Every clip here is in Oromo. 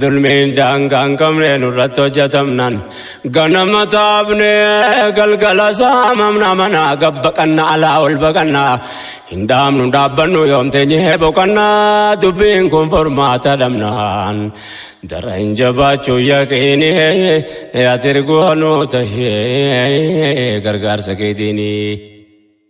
Dulmiin daangaa hin qabne nurratti hojjetamnaan ganama taabnee galgala saamamna manaa gabbaqanna alaa ol baqanna hin dhaabnu dhaabbannu yoom teenyee boqanna dubbiin kun furmaata dhabnaan dara hin jabaachuu yaqiinii ati ergoo nu tahee gargaarsa keetiinii.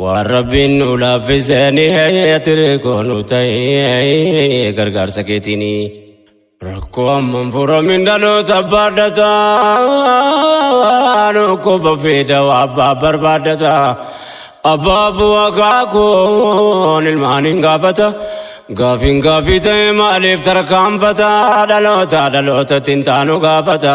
Waan rabbiin nu laaffisanii tiree koonu ta'ee gargaarsa keetiini. Rakkoo amman furamin dhaloota baadhataa dhukkuba fida waa abbaa barbaadata. Abbaa bu'aa kaakuun ilmaan hin gaafata. Gaafiin gaafii ta'e maaliif tarkaanfata dhaloota dhalootatti hin taanu gaafata.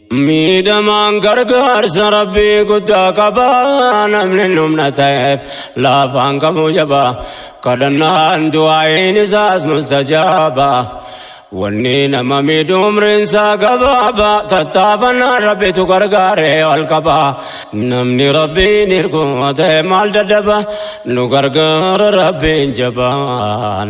Miidhamaan gargaarsa rabbii guddaa qaba namni humna ta'eef laafaan kamuu jaba kadhannaan du'aa'iin isaas mustajaaba wanni nama miidhu umriinsaa gabaaba tattaafannaan rabbitu gargaaree ol qaba namni rabbiin hirku ta'e maal dadhaba nu gargaara rabbiin jabaan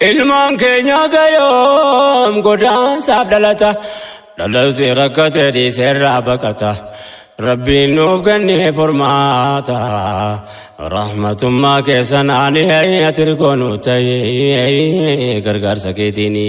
Ilmaan keenyata yoom godaansaaf dhalata dhalatti rakkate dhiiseerraa baqata rabbiin nuuf kennee furmaata rahmatummaa keessan ani ati rikoo nu ta'e gargaarsa keetiini.